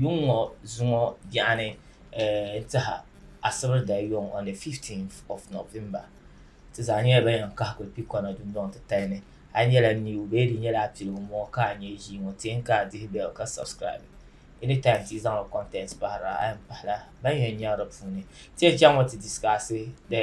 Yuŋ ŋɔ zuŋɔ yaɣini n tiha asibiri dali yuŋ on the 15th of November ti zaa nyɛla ban yan kahi kuli kpi kɔna dundɔŋ titali ni a yi nyɛla new bee di nyɛla a piligu n bɔŋɔ ka a nyɛ ʒii ŋɔ ti n ka a dihi bell ka subscribe anytime ti yi zaŋla content pahira a yan pahila ban yan nyaɣi di puuni ti yan chaŋ ŋɔ ti discuss the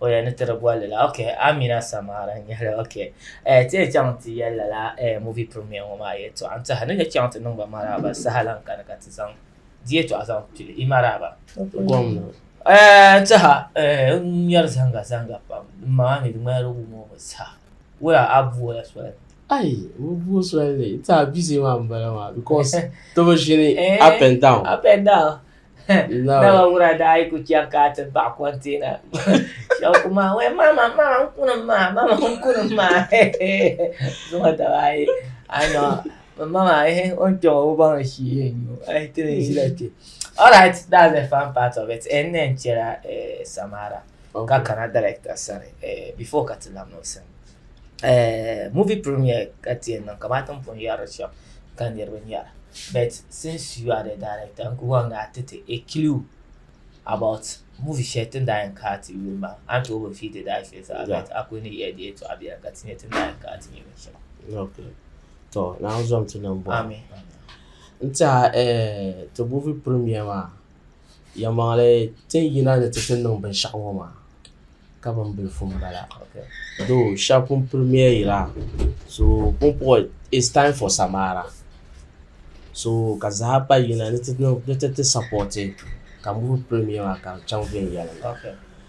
o yɛn ni tiri bolli la ok amina samara n nyɛli ok eh, ti yɛn chaŋ ti yɛli lala eh, movie premier ŋɔ maa yɛltɔɣa n tiɛha ni yɛn chaŋ ti niŋba maraaba saha lan kani ka ti zaŋ di yɛltɔɣa zaŋ pili i maraaba gomna eh, n tiɛha eh, n ŋmɛri zanga zanga pam din maŋa mi di ŋmanila wum o mi saha wula a buola soli ayi bi buo soli ni ti a bizi maa n bala maa because ti bi ʒini Eh. up and down up and down Naba wura daa yi ku chaŋ ka a ti baɣi kɔnteena shɛba ku maa wee mama mama n kunim maa mama n kunim maa zuŋɔ daba ayi a nɔ mama o ni kpɛŋɔ o baŋ ni shii yɛn nyu a yi ti ni ʒila kpɛ all right that's the fun part of it n ni yɛn chɛla samara. okay. ka kana director sani eh, before ka ti lahi niŋ sim eh, movie premiere ka ti yɛn niŋ kamani tin pun yɛri shɛm ka niriba nyɛra but since you are the director n ku wan gaa ti ti a clue about movie shɛli tin daa yɛn kaa ti yuli maa a ni tooi bi fiidi daa shɛli zaa but a ku ni yɛli di yɛtɔɣa biɛla ka ti nyɛ tin daa yɛn kaa ti nyɛ binshɛli okay. to naawuni zom ti niŋ bɔhi amin n tiɛha eh, ti movie premiere maa Yɛlimaŋli ti ni yina ni ti ti niŋ binshɛɣu ŋɔ maa ka bin bilifu n bala doo shɛba pun pili miya yira so pumpɔŋ is taim fɔ samaara so ka zaa pa yina ni ti ti sapɔti ka n boli pili miya maa ka di chaŋ viɛnyɛliŋga.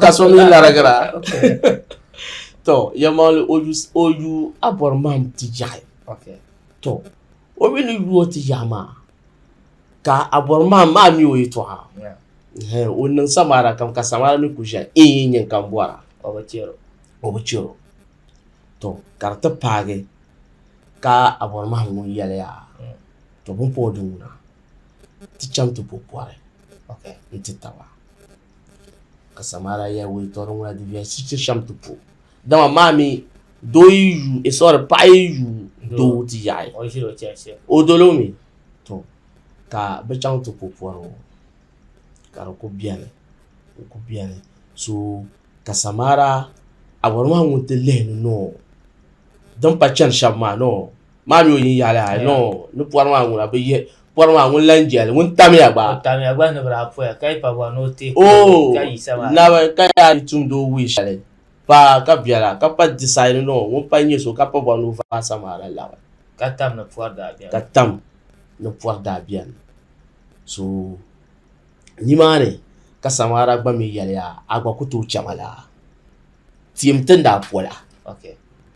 ka so mi larigira tɔ yɛmmaɣili o yu o yu a bɔri mahim ti ʒiɛhi tɔ o mi ni yu o ti ʒiɛhi maa ka a bɔri mahim maa mi o yɛtɔɣa hɛn o niŋ samaara kam ka samaara mi kuli ʒiɛhi in yi nyin ka m bɔra o bi chɛ o tɔ ka di ti paagi ka a bɔri mahim ŋun yɛliya tɔ bini pa o di ŋuna ti chaŋ ti bo pɔri nti taba, ka Samaria yɛli wuntaŋ ŋuna di viɛli shiri ti shɛm ti po, dama maa mi doo yi yu e sɔri paɣa yi yu doo ti yaɣi o dolo mi to ka bi chaŋ ti po pɔri ŋɔ ka di ku beni di ku beni so ka Samaria Awuraba maa ŋun ti lihi ni nɔɔ din pa chani shɛba maa nɔɔ. maa mi o yin yaɣili ha no ni pɔri maa ŋuna bi yihi pɔri maa ŋun lan jɛli ŋun tamiya gba o tamiya gba ni bi daa poya ka yi pa bɔri ni o ti o oh, ka yi sama naba ka yaa yi tumdi o wuyi shɛli pa ka biɛla ka pa disaidi no ŋun pa nyɛ so ka pa bɔri ni o vaai sama la laɣi ka tam ni pɔri daa biɛni ka tam ni pɔri daa biɛni so nimaani ka samara gba mi yɛliya a gba ku tooi chɛma la tiɛm ti ni daa pola okay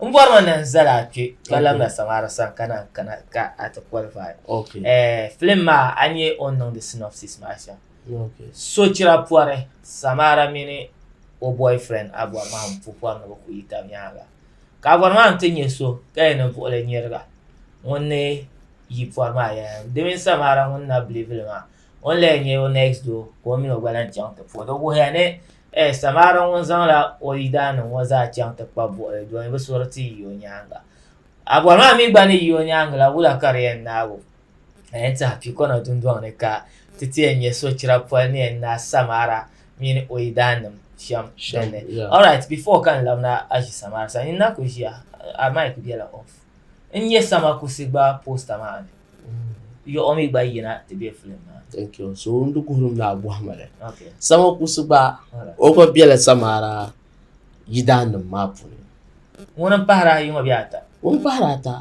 n bɔri ma na n zali a kpe ka labi na saŋara sani ka na kana ka a ti qualify eh, film maa a nyɛ o niŋdi synopsis maa shɛm sochira pɔri samara mini o boyfriend a bɔri maa n pu pɔri ni bi ku yi tab nyaanga ka a bɔri maa n ti nyɛ so ka yɛn ni buɣili nyɛriga ŋun ni yi pɔri maa yɛn di mini samara ŋun na bilivili maa ŋun la yɛn nyɛ o next door ka o mini o gba lahi chaŋ ti puhi di wuhiya ni Ɛ! Samaara ŋun zaŋla o yidaanim ŋɔ zaa chaŋ ti kpab buɣili doli ni bɛ suri ti yi o nyaaŋa. A bɔri maa mi gba ni yi o nyaaŋa la, wula ka di yɛn naag o? A yɛn tihi pikɔna dundɔŋ ni ka ti ti yɛn nya sochira poli ni yɛn naai Samaara mini o yidaanim shɛm din ni. Alright, before ka n labina Aʒi Samaara sani, nyin na kuli ʒiya, a mic bela off. n nyɛ sama kusi gba posta maa ni yiɣu mi gba yina ti bɛ filim maa thank you so n di kuhuri mi agɔhima la sama kusi gba o gba bɛla samara yidaa nim maa puuni ŋuni n pahara ayi ŋɔ bɛ ata ŋuni pahara ata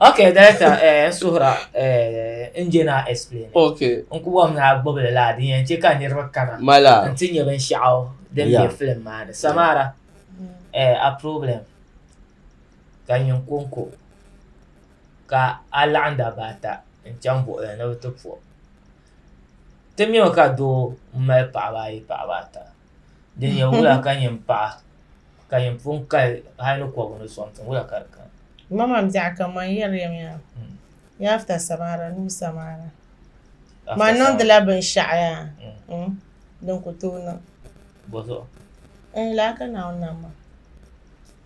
ok director eh, n suhira eh, n jɛ naa explain ok n ku bɔm naa gbubi li laa din yɛn chɛ ka niriba kana mala n ti nyɛ binshɛɣu din bɛ filim maa ni samara eh, a problem ka nyin kɔŋko ka a laɣim dabba ata n chaŋ buɣili ni ni bɛ ti po o ti nya mi ka doo m mali paɣaba ayi paɣaba ata din nya wula ka nyin paɣa ka nyin pun kali hali ni kɔbiri ni sɔŋ tiŋ wula ka di kani bɔzuɣu.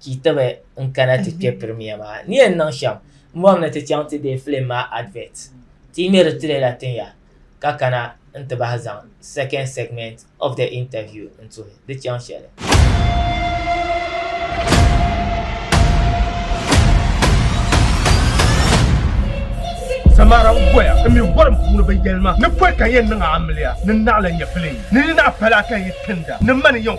Ti tibi n kana ti kpe premier maa. Ni yɛn niŋ shɛm m bɔri ni ti chaŋ ti deei film maa advert. Ti yi ŋmeri trailer tin ya ka kana n ti bahi zaŋ second segment of the interview n tuhi di chaŋ shɛli. Samara n voya n mi vorim puuni bi yɛlima ni pɔi ka n yɛn niŋ a amiliya ni naɣila nyɛpiliŋ ni ni naɣi pala ka n yi tinda ni mani yɛn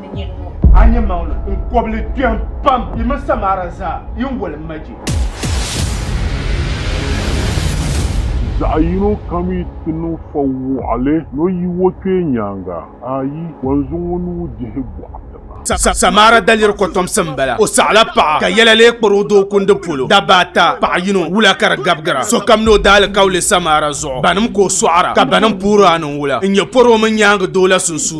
ni nyini ŋɔ. A nya maŋli n kɔbili kpɛm pam yi mini Samara zaa yi ni wali ma je. Zaɣ yino kam yi ti niŋ fa wɔɣili ni o yi o kpee nyaaŋa, ayi, kɔnzu ŋɔ ni o dihi bɔɣi tiŋa. Samara daliri kɔtomsi m-bala. O saɣila paɣa ka yɛla lee kpari o doo kundi polo. Dabba ata, paɣa yino, wula ka di gabi gira. Sokam ni o daalikauli Samara zuɣu. Banim ka o sɔɣira, ka banim puhiri a niŋ wula n-nyɛ pɔri o mini nyaaŋa doo la sunsuuni.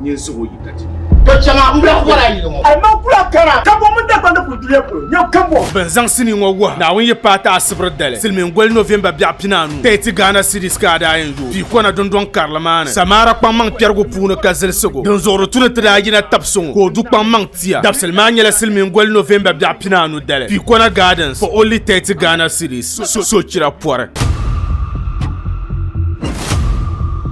nyin suhu yi ka ti. To chɛŋa m-bɛ kɔra ayi ŋɔ. Alima kula kara kambɔŋ mini Dagbandi kuli duliya polo nyɛ kambɔŋ. Bɛ ni zaŋ sinii ŋɔ wuhi Naawuni yi paai ti Asibiri dali, Silimiin goli November biɛɣu pinaanu, Tahiti Ghana Cities ka a daa yɛn yooi pii kɔna dundɔŋ karili maa ni Samaara kpaŋmaŋ kpɛrigu puuni ka zilisi go dinzuɣuri tu ni ti daa yina tabi so ŋɔ ka o du kpaŋmaŋ tia dabisili maa nyɛla Silimiin goli November biɛɣu pinaanu dali pii kɔna Gardens for only Tahiti Ghana Cities sochira pɔri.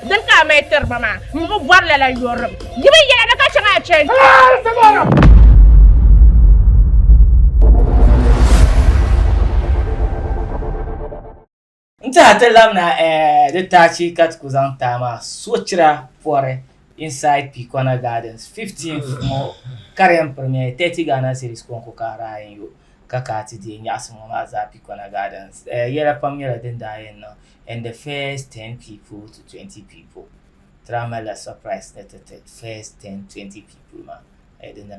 Dini ka a mali tiri ba maa? M bi bɔri lala yɔrim. Di mi yɛla ni ka chaŋ a chani. N tiɛha ti labina di taachi ka ti ku zaŋ taai maa sochira pɔri inside Pikɔna Gardens 15th ŋɔ Karen Premier 30 Ghana Cedis kɔŋko ka Ryan yo ka ka ti deei nyaɣisim ŋɔ maa zaa Pikɔna Gardens. Yɛla pam nyɛla din daa yɛn niŋ and the first ten people to twenty people tira mali la surprise ni ti ti first ten twenty people ma eh, di na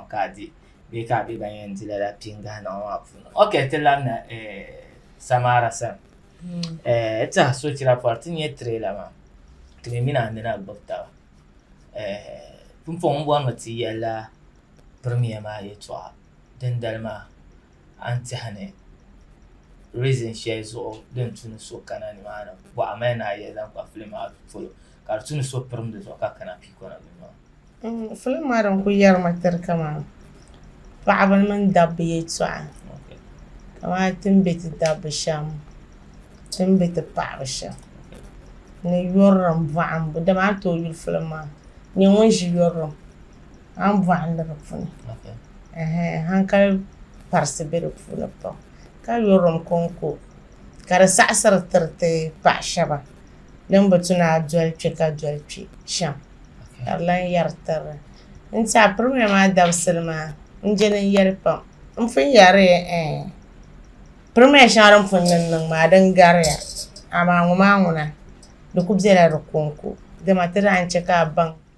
ka di bee ka bɛ ban yɛn di lala pingahi niŋ maa puuni ok ti labina eh, samara sani hmm. eh, ti a sochira pɔri ti nyɛ trailer maa ti mi mina nina gbubi taba eh, pumpɔŋ bɔrimi ti yɛla premier maa yɛtɔɣa dindali maa a ni tɛha ni reason shɛli zuɣu din tu ni so kana ni maa ni bɔɣa mali ni a yɛli zaŋ kpa film maa polo ka di tu ni so pirim di zuɣu ka kana piikɔna ni maa. Mm, film maa din ku yɛri ma tiri kaman paɣaba mini dabba yɛltɔɣa kamani ti ni be ti dabba shɛm ti ni be ti paɣaba shɛm ni yurilim bɔhimbu dama a ni tooi yuli film maa nyɛ ŋun ʒi yurilim an bɔɣu ni di puuni hankali parisi be di puuni pam ka yurilim kɔŋko ka di saɣisiri tiri ti paɣ shɛba din bi tu ni a doli kpe ka doli kpe shɛm ka di lan yɛri tiri n ti a pirimiya maa dabisili maa n-je din yɛli pam n pun yɛri pirimiya shɛŋa din pun niŋ niŋ maa din gariya amaa ŋɔ maa ŋuna di ku bela di kɔŋko dama ti daa ni chɛ ka a baŋ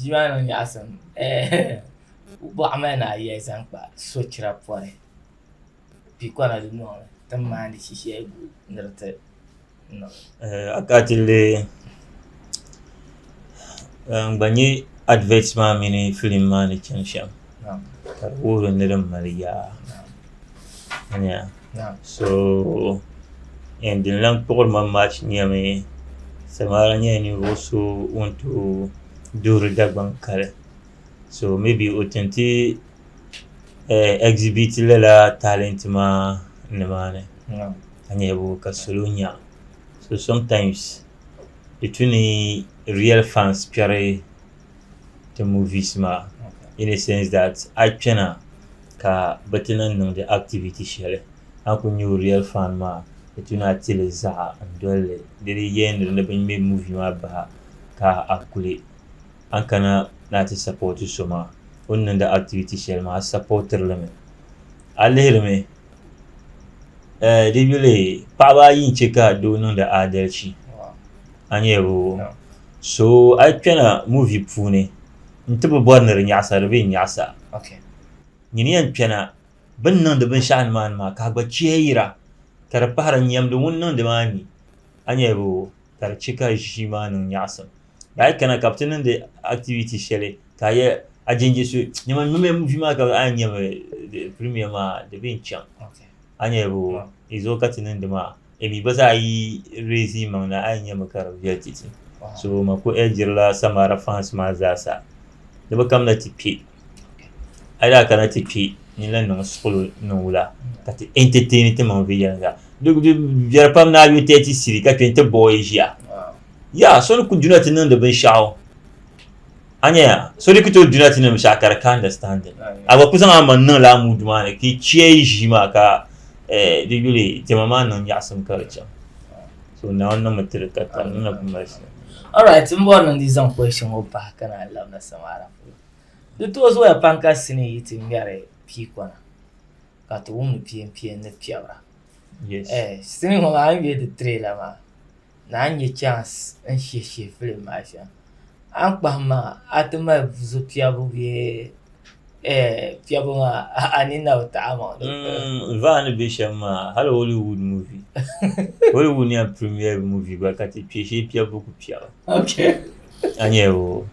Ʒiɛmani niŋ nyaɣasim bɔɣa mali ni ayiya zaŋ kpa sochira pɔri pikɔna dunoli ti ni maandi shishɛgu ni di ti niŋ akatili n gba nyɛ adivɛt maa mini filim maa ni chani shɛm ka di wuhiri ni din mali yaa so n din lan kpuɣiri ma maa nyɛmi samaara nyɛla ninvuɣu so ŋun tooi duɣuri Dagbaŋ kali so mibi o tin tiɛ ɛgsibiti lala taalɛnti maa nimaani ka nyɛ ka salo nya so somtaains di tu ni riɛl faans kpɛri ti movies maa in a sense that a yi kpɛna ka bɛ ti lan niŋdi activity shɛli a ni kuli nyɛ o real fan maa di tu ni a ti li zaɣa n-doli li di di yɛnri ni bɛ ŋme movie maa bahi ka a kuli a ni kana ni a ti support so maa o ni niŋdi activity shɛli maa a supportiri li mi a lihiri mi eh di yuli paɣaba ayi n-che ka doo niŋdi aadalichi a nyaabu so a yi kpɛna muvi puuni n ti bi bɔri ni di nyaɣisa di bi yɛn nyaɣisa Okay. nyini yɛn kpɛna bɛ ni niŋdi binshɛɣu nimaani maa ka a gba chɛyira ka di pahira nyɛmdi ŋun niŋdi maa ni a nya bɛ o ka di chɛ ka ʒii maa niŋ nyaɣisim daa a yi kana ka bɛ ti niŋdi activity shɛli ka a yɛ a jɛnjɛ so nyama n ŋmɛmiya muvi maa ka a yɛn nyami di premiere maa di bi yɛn chaŋ Okay. a nya bɛ o Wow. di zuɣu ka ti niŋdi maa Emi gba zaa yi reezi yimaŋ na a yi nya mi ka di viɛli titi. So ma ku ɛlgirila Samara fans maa zaa sa ni bɛ kamina ti kpe. A yi daa kana ti kpe ni lan niŋ suɣulo niŋ wula ka ti entertain timaŋ viɛnyɛliŋga. Di viɛli pam ni a yo tɛɛti siri ka kpe n-ti bɔɔ yi ʒiya. Yaa so ni ku duna ti niŋdi binshɛɣu. Anyaya, so di ku tooi duna ti nim shɛɣu ka di ka understanding. A gba ku zaŋ a maŋ niŋla a muudu maa ni ka yi chiya yi ʒii maa ka eh, di yuli diɛma maa niŋ nyaɣisim ka di chaŋ. So Naawuni niŋmi ti di ka tali, di na ku mali shɛli. Alright, m bɔri ni n di zaŋ question ŋɔ pahi ka naan labina samaara polo. Di tooi zooya pam ka sinii yi ti ŋmɛri piikɔna ka ti wumdi piempieni ni piɛbira. Yes. Eh, sinii ŋɔ maa a ni yuli di tray la maa, Naa n-nyɛ chance n-shihi shihi film maa shɛm a ni kpahim maa a ti mali zo piɛbu bee piɛbu maa a ni na bi taɣi amaŋ di puuni. Mm, vaa ni be shɛm maa hali Hollywood movie Hollywood ni yɛn premiere movie gba ka ti kpe shee piɛbu ku piɛba Okay. a nya o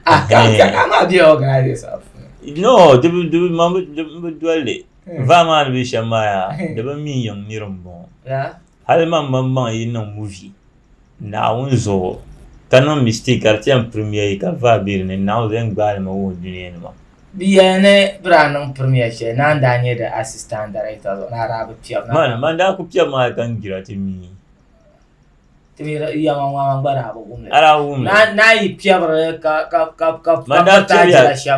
Ah, ka ka ka maa be organizers maa puuni. no di bi di bi man bi di- n bi doli li vaa maa ni be shɛm maa yaa di bi mi yiŋ nir m-bɔŋɔ Yeah. Hali man man maŋ yi niŋ movie Naawuni zuɣu ka niŋ mistake ka di ti yɛn premier yi ka vaa be di ni, Naawuni zaŋ gbaai li ma wuhi dunia ni maa. Di yɛli ni bɛ daa niŋ premier shɛli na n-daa nyɛ di Assistant Director zuɣu ni a daa bi piɛb na. Man, man daa ku piɛb mi a yi ka n gira ti mi. Ti mi di yɛma ŋɔ a man gba daa bi. ala wummi n'a yi piɛbiri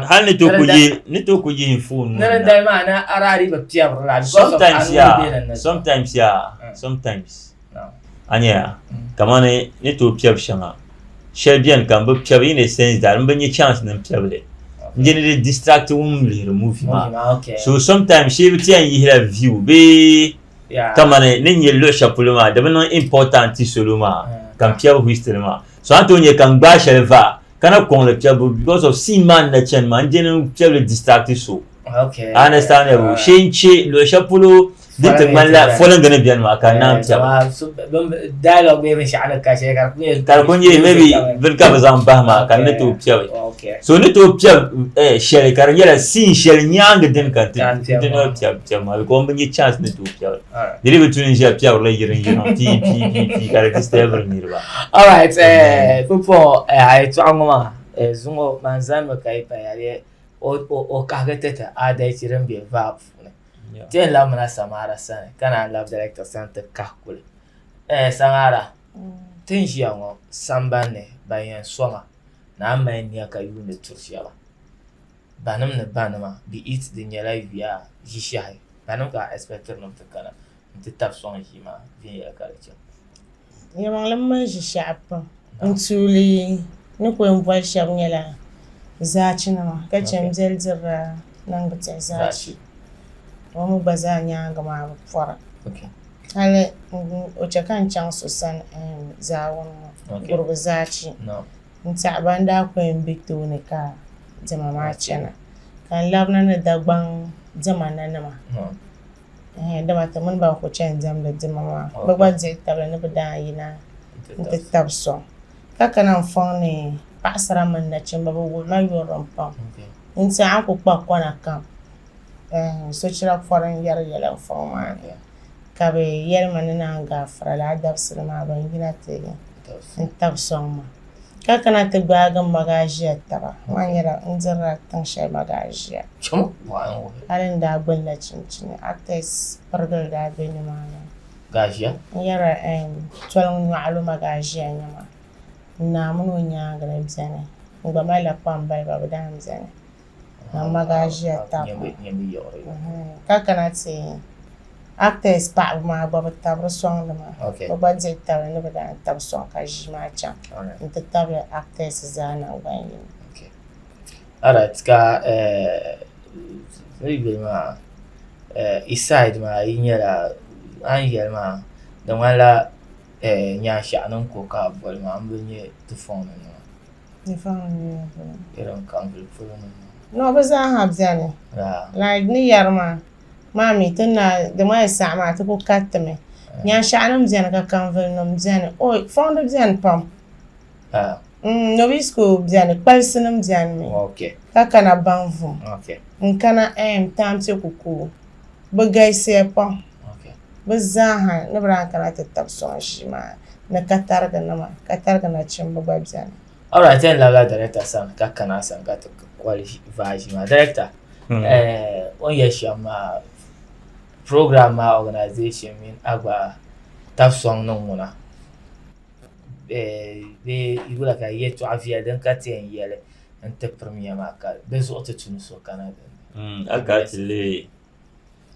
hali ni to ku yi ni to ku yi fon sometimes ya sometimes ya sometimes a nya kamani ni to piɛbi shɛŋa shɛli bɛni ka n bi piɛbi in a sense that n bi nya chance ni n piɛbi li n-je ni di distract wum lihiri movie maa so sometimes shee bi ti yɛn yihila view bee Yeah. kamani ni nyɛ luɣi shɛli polo maa di bi niŋ important ti solo maa Mm. ka n piɛbi history maa so a ni tooi nyɛ ka n gbaai shɛli va ka na kɔŋ li piɛbu because of scene maa ni na chani maa n dini n piɛbili distract so Okay. a understand ya bu shee n che luɣi shɛli polo din ti ŋmani la fɔlingi ni bɛni maa ka n naan piɛbu Wow, so- bin- Dialogue bee binshaɣu ni ka shɛli ka di ku nyɛ. ka di ku nyɛ maybe bini ka bi zaŋ bahi maa ka n ni tooi piɛbi Okay. so ni tooi piɛbi eh, shɛli ka di nyɛla scene shɛli nyaangi dini ka n ti Ka n piɛbi n ti maa. ni piɛbi Tiɛm maa bikom bi nyɛ chance ni tooi piɛri dili bi tuni n ʒiya piɛri la yiri n yirina pii pii pii pii ka di disturb niriba. all right eh, pupo eh, a yi tɔɣa ŋɔ maa eh, zuŋɔ man zanimi ka yi paya di o o o kahigi ti ti adalci din be vaa puuni ti yɛn labimina Samara sani ka naan labi director sani ti kahi kuli eh, Samara ti ni ʒiya ŋɔ sambanni ban yɛn soma naan mali nia ka yuuni tiri shɛba banim ni banima, be it di nyɛla yuya ʒishehi banim ka a expectiri nim ti kana nti tab sɔŋ ʒii maa viɛnyɛla ka di che. Nyɛmaŋlim mali ʒishehi pam n tuuli ni ku yɛn boli shɛb nyɛla zaachinima ka che n beli dirila niŋdi tihi zaachi o mi gba zaa nyaaŋa maa bi pɔra hali o che ka n chaŋ so sani zaawuni ŋɔ gurugu zaachi. n tiɛhi ban daa ku yɛn be tooni ka diɛma maa chana, ka n labina ni Dagbaŋ diɛma nanima, ɛɛh, dama ti mini ba n-ku chani diɛmdi diɛma maa, bɛ gba dihi tabili ni bɛ daa yina nti tab sɔŋ, ka kana n fɔŋ ni paɣisara mini nachimba, bɛ wuri ma yurilim pam, n tiɛhi a ni ku kpa kɔna kam, ɛɛh, sochira pɔri n-yɛri yɛla n fɔŋ maa ni. ka bɛ yɛli ma ni naan gaafira laa dabisili maa ban yina ti n-tab sɔŋ ma. Ka kana ti gbaagi m magaʒia taba. Maa nyɛla n dirila tiŋ shɛli magaʒia. Hali n daa gbinila chinchini, Artex pirigili daa be nimaani. N yɛra, Ɛɛn, toliŋ nyɔɣilo magaʒia nyama. N Naa mini o nyaaŋa ni beni. N gba malila kpambaliba bɛ daan beni. Mama gaa ʒiya tam ka kana ti actors paɣaba maa gba bi tabiri sɔŋ nima bi gba dihi tabili ni bi daa tabi sɔŋ ka ʒii maa chaŋ n ti tabili actors zaa nangbani yini. Alright ka yi yuli maa i side maa yi nyɛla a ni yɛli maa di ŋmanila nyaanshaɣu ni n ko ka boli maa n bi nyɛ ti fɔŋ ni nima. No bi zaa ha bɛni like ni yari maa maa mi ti naai di maa saɣi maa ti ku kariti mi nyanshaɣu nim bɛni ka kanvuli nim bɛni oi fɔŋdi bɛni pam nobis kuli bɛni kpalisi nim bɛni mi ka kana baŋ vum n kana taampiɛ ku koogi. bɛ galisiya pam bɛ zaaha ni bɛ daa kana ti tab sɔŋ ʒii maa ni katarigi nima katarigi nachimba gba beni. Alright yɛn labila director sani ka kana a sani ka ti kɔli vaa ʒii maa director hmm. eh, o ni yɛ shɛm maa program maa organization mini a gba tab sɔŋ niŋ ŋuna eh, bee yula ka yɛtɔɣa viɛli din ka ti yɛn yɛli n ti pirimiya maa ka di zuɣu ti tum so kana din ni. Mm, a ka ti lihi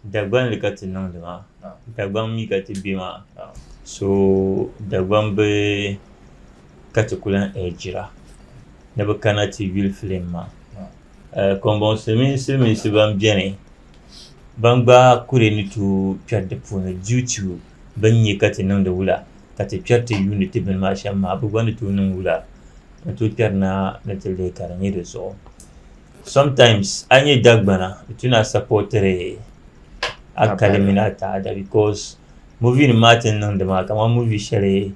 Dagban li ka ti niŋdi maa, ah. Dagban mi ka ti be maa, ah. so Dagban bi ka ti ku lan ɛɛjira ni bi kana ti yuli filim maa. Ah. Eh, Kɔmbɔŋ silimiin silimiinsi ban beni ban gba kuri ni tooi kpɛri di puuni due to bɛ ni nya ka ti niŋdi wula, ka ti kpɛri ti yuuni ti bini maa shɛm maa, bɛ gba ni tooi niŋ wula n-tooi kpɛri naa ni ti leei ka di nyɛ di zuɣu. Sometimes a ni nyɛ Dagbana di tu ni a supportiri a kali mini a taada because movie nim maa ti ni niŋdi maa kamani movie shɛli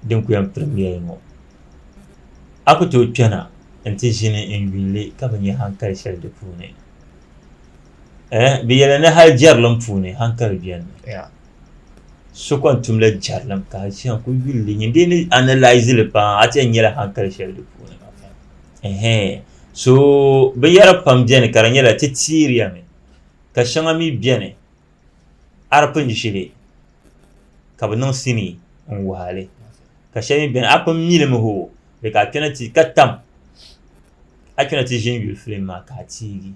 din kuli yɛn premiere ŋɔ a ku tooi kpɛna n-ti ʒini n-yuuni li ka bi nya hankali shɛli di puuni. eh, bɛ yɛli ni hali jɛrilim puuni hankali bɛni mi yeah. so kon tumla jɛrilim ka shɛŋa ku yuli li nyin dee ni analyse li paa a ti nyɛla hankali shɛli di puuni okay. so binyɛra pam bɛni ka di nyɛla ti tiiriya mi ka shɛŋa mi bɛni arpin ʒili ka bi niŋ sini n waali ka shɛli mi bɛni a pun mili mi ho di ka kpɛna ti ka tam a kana ti ʒini yuli filim maa ka a tiigi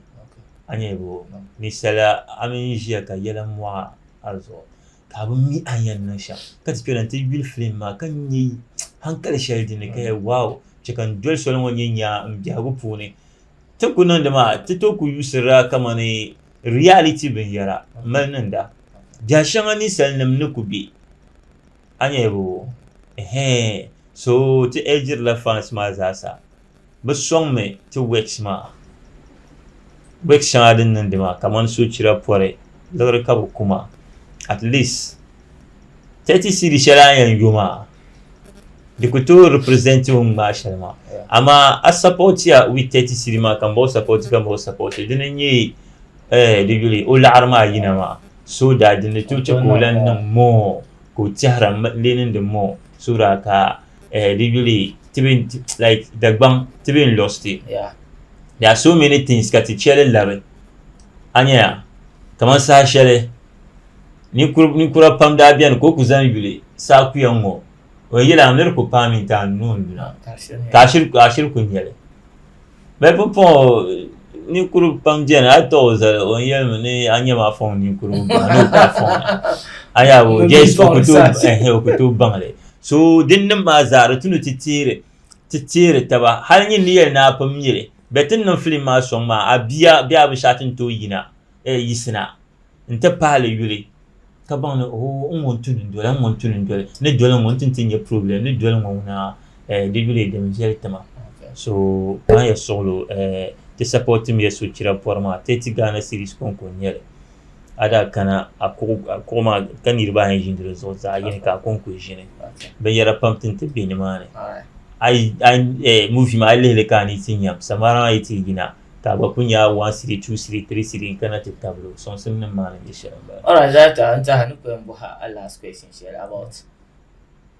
a nyɛli bo ni sala a mini ʒiya ka yɛla mɔɣa a zuɣu ka a bi mi a yɛn niŋ shɛm ka ti kpɛla ti yuli filim maa ka nyɛ hankali shɛli din ni ka yɛ waaw chɛ ka n doli soli ŋɔ nyɛ nyaa n biɛhigu puuni ti ku niŋdi maa ti tooi ku yuusirila kamani riyaliti binyɛra mali niŋda biɛha shɛŋa ninsal nim ni ku bɛ A nyɛbu, Ɛhɛɛn! So ti ɛɛ diri la fans maa zaasa. Bɛ sɔŋ mi ti works maa. Works shɛŋa din niŋdi maa kamani sochira pɔri liɣiri ka bɛ ku ma. At least 30 cedi shɛli a yɛn yo maa di ku tooi represent o ni ŋmaai shɛli maa. Amaa a support ya with 30 cedi maa ka m ba o support ka m ba o support dini n-nyɛ ɛɛh di yuli o laɣiri maa yina maa. so daa di ni tooi chɛ ka o lan niŋ moo ka o tɛhira lee niŋdi moo so daa ka di yuli Dagbaŋ ti bɛ n lost it there are so many things ka ti chɛ li labi a nyɛya kamani saha shɛli ninkura pam daa bɛni ka o ku zaŋ yuli saha kuya ŋ-ŋɔ o yili a miri ku paami nti a nuu n-duna ka a shiri ku nyɛli bɛ pumpɔŋɔ ninkuri pam beni a tɔɣi o zali o yɛli mi ni a nyɛ ma fɔŋ ninkurigu baŋ ni o ka fɔŋ a yaa o jɛs o ku tooi baŋli so din niŋ maa zaa di tu ni ti teeri ti teeri taba hali nyin ni yɛli ni a pun miri bɛ ti niŋ filim maa sɔŋ maa a bia bee a bi shati n-tooi yina yisina n-ti pahili yuli ka baŋ ni ooh n ŋun tuni n-doli n ŋun tuni n-doli ni doli ŋɔ n-ti ti nyɛ problem ni doli ŋɔ ŋuna eh di yuli din viɛli tima so baŋ ya suɣilo eh ti support mi ya sochira pɔri maa Tɛti Ghana series kɔŋko n-nyɛli a daa kana a kuɣu a kuɣu maa ka niriba ayi ʒini di zuɣu zaɣ yini ka a kɔŋko ʒini binyɛra pam ti ni ti be ni maa ni a yi a yi eh movie maa a yi lihili ka a ni yi ti nyam samara maa yi ti yina ka a gba ku nya a one siri two siri three siri n kana ti tabili o soŋsim nim maa ni nyɛ shɛli n bala. Alright zaa ta n taha ni ku yɛn bɔhi a last question shɛli about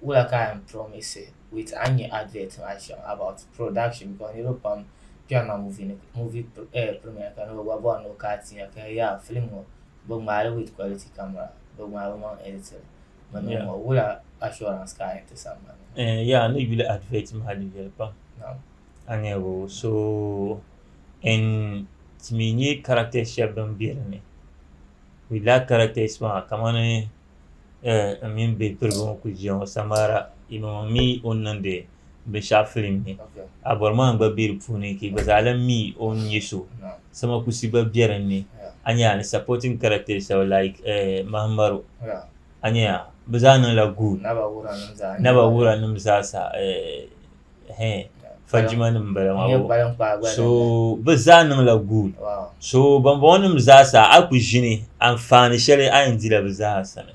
wula ka a yɛn promise with a ni nyɛ advert maa shɛm about production because niriba pam kpɛri na movie ni movie eh, premiere ka ni bi gba bɔri ni o ka ti nya ka yaa film ŋɔ bi ŋmaai li with quality camera bi ŋmaai bi maŋ editing mi niŋ ŋɔ wula assurance ka a yɛn ti sambani. Eh, yaa ni yuli advert maa di viɛli pam. Naam. Aniɛbo. So n timi nyɛ characters shɛb din be din ni. We lack characters maa kamani n mini be piriba ŋɔ kuli ʒiya ŋɔ Samara yimaŋɔ mi o ni niŋdi binshɛɣu film ni Abɔrimaa gba be di puuni ka yi gba zaa lahi mi o ni nyɛ so Sama Kusi gba be din ni a nya ni supporting characters shɛba like Mahamaro a nya bɛ zaa niŋla good Naba Wuranim zaa n nya ba Naba Wuranim zaa sa. fajima nim n bala maa so bi zaa niŋla guul so bambɔŋɔ nim zaa sa a ku ʒini anfaani shɛli a yɛn dila bi zaa sani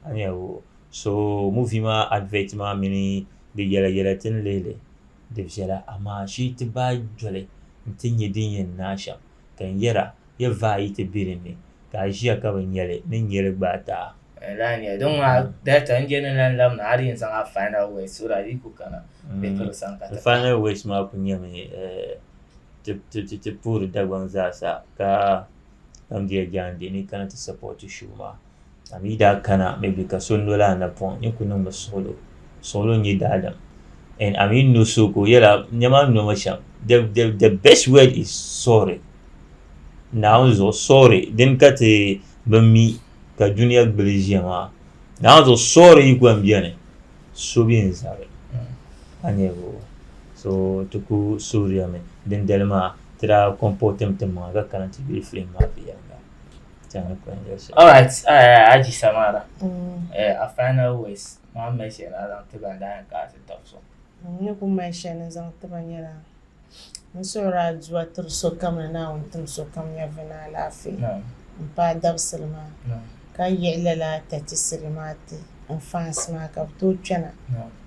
a ni yɛli o so muvi maa adivɛt maa mini di yɛla yɛla ti ni lihili di viɛla amaa shee ti baai doli n ti nyɛ din yɛn niŋ a shɛm Ka n yɛra, Yi vaai yi ti biri ni, ka a ʒiya ka bi nya li, ni n nyeli gbaai ti a. N lahi nya din ŋɔ data n je ni lan lab ni a di yɛn zaŋ a final words so that yi ku kana Bikiri sani ka ti pahi. Final words maa ku nyɛmi ti ti puhiri Dagbaŋ zaa sa ka Kamdiya Jaande ni yi kana ti support show maa. a mi daa kana mi bi ka so noli a napɔŋ ni ku niŋmi suɣulo suɣulo n-nyɛ daadam and a mi no so ka o yɛla nɛma n nomi shɛm the, the, the best word is sorry naawuni zuɣu sorry din ka ti bi mi ka duniya gbuli ʒiya maa naawuni zuɣu sorry yi gba n-beni so bi n zabi a nyɛvo so ti ku suhiriyami dindali maa ti daa comportimi ti maŋa ka kana ti yuli film maa viɛnyɛla All right, uh, Aji Samara. Mm. Uh, our final words. Mom mentioned I don't think I'm dying because it talks so. Ni ku mention is on tiba nyɛla n suhuri aduwa tiri sokam ni naawuni tim sokam nyɛvi ni alaafee n paai dabisili maa ka yiɣi lala tatisiri maa ti n fans maa ka bi tooi kpɛna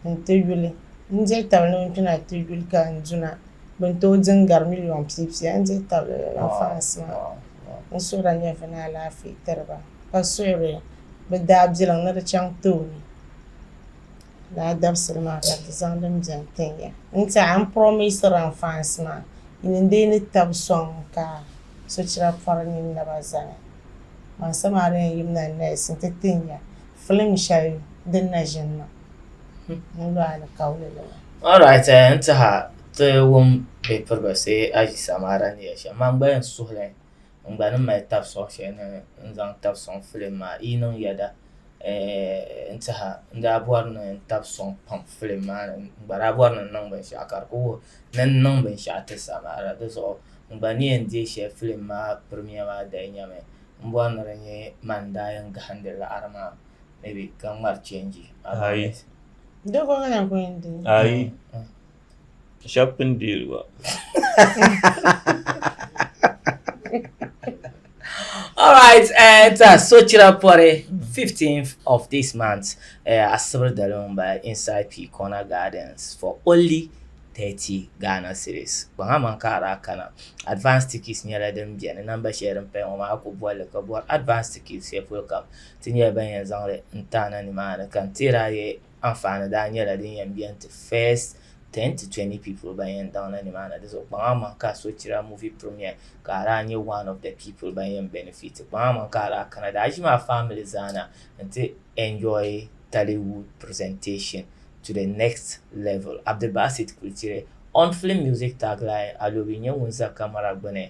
n ti yuli n diri tabili ni n kpɛna ti yuli ka n duna bin tooi din gari miliyon piipiya n diri tabili lala fans maa N suhu daa nyɛvi ni alaafee tiri ba, ka suhiri bɛ daabilim ni di chaŋ tooni. Lala dabisili maa ka di zaŋ din beni tin ya. N tiɛha n promisira n fans maa ni n dii ni tab sɔŋ ka sochira pɔri nyin naba zani. Baŋsim a di yɛn yimina nees nti tin ya film shɛli din na ʒini maa. Alright eh, n tiha ti wum bɛ pirigisi aʒi samaara ni yɛli shɛm man gba yɛn suhili n gba ni mali tabi sɔŋ shɛli ni n zaŋ tabi sɔŋ filim maa yi niŋ yɛda eh, n tiha n daa bɔri ni n tabi sɔŋ pam filim maa ni n gba daa bɔri ni n niŋ binshɛɣu ka di ku wuhi ni n niŋ binshɛɣu ti samaara di zuɣu n gba ni yɛn deei shɛli filim maa pirimiya maa dali nyami m bɔri ni di nyɛ man n daa yɛn gahindi laɣiri maa maybe ka ŋmari change ayi doko ŋana ko n di ayi shab pun deeli ba All right, uh, it's a Sochira Pore, 15th of this month, uh, at Sibir Dalumba inside P Corner Gardens for only 30 Ghana series. Banga man ka ara kana. Advanced tickets nyɛla din biɛni namba shɛli din paya ŋɔ maa ku bɔli ka bɔri advanced tickets shɛli polo kam Ti nyɛla ban yɛn zaŋli n ti a na nimaani ka n tihiri a ye anfaani daa nyɛla din yɛn beni ti first ten to twenty people ban yɛn daŋ na nimaani di zuɣu kpaŋa aman ka a sochira movie premiere ka a daa nyɛ one of the people ban yɛn benefit kpaŋa aman ka a daa kana daa ʒimi a family zaa na n ti enjoy Tollywood presentation to the next level Abdulbasit Kultire on film music tagline Alobi nyɛ ŋun za camera gbuni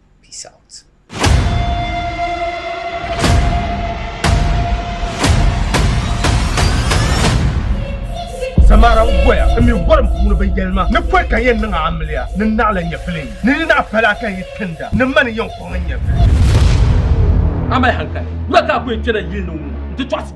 Peace out. Samara n goya n mi gorim puuni bin yɛlima ni pɔi ka yɛn niŋ amiliya ni naɣila nyɛvili ni ni naɣi pala ka yi tinda ni mani yɛn kɔŋ nyɛvili. Amai hankali, wula ka a ku yɛn kpɛna yili ni ŋɔ n ti tɔɣisi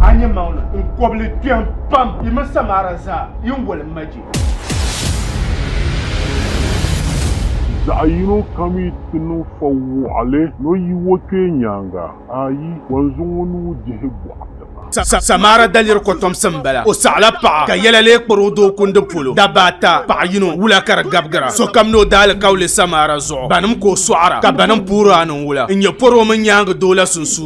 A nyɛ maŋli n kɔbili kpɛm pam yi mini Samara zaa yi ni woli maji. Zaɣ yino kam yi ti niŋ fɔ wɔɣili ni o yi o kpee nyaaŋa, ayi, o ni zaŋ o nuu dihi bɔɣu tiŋa. Samara daliri kɔtomsi m-bala. O saɣila paɣa, ka yɛla lee kpari o doo kundi polo. Dabba ata, paɣa yino, wula ka di gabigira. Sokam ni o daalikauli Samara zuɣu. Banim ka o sɔɣira, ka banim puhiri a ni n-wula n-nyɛ pɔri o mini nyaaŋa doo la sunsuuni.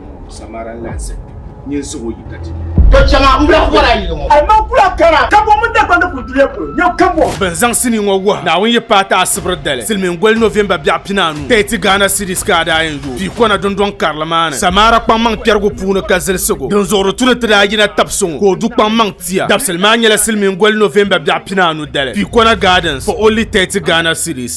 Samara n lahi zaya ni n siɣi o yi ka ti nya. To chɛŋa m bla bɔra yili ŋɔ. Hali man kula kana kambɔŋ mini Dagbani kuli duliya polo nyɛ kambɔŋ. Bɛ ni zaŋ sinii ŋɔ wuhi Naawuni yi paai ti Asibri dali, Silimiingoli November biɛɣu pinaanu, Tɛti Ghana Cedis ka a daa yɛn yooi pii kɔna dundɔŋ karili maa ni Samara kpaŋmaŋ kpɛrigu puuni ka zilsig o. Dinzuɣuri tu ni ti daa yina tabi suŋ o ka o du kpaŋmaŋ tia. Dabisili maa nyɛla Silimiingoli November biɛɣu pinaanu dali, Pii Kɔna Gardens, for only Tɛti Ghana Cedis.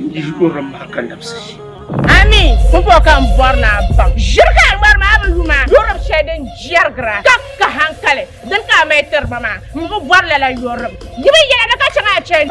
N bihi kuri din bahi ka nabisi ʒi. Ami pumpɔŋɔ ka n bɔri ni a baŋ. Ʒiri ka a ŋmari maa bi lu maa. Yɔrim shɛli din jɛrigira ka ka hankali, dini ka a mali tiri ba maa? M bi bɔri lala yɔrim. Yi mi yɛla ni ka chaŋ a chani.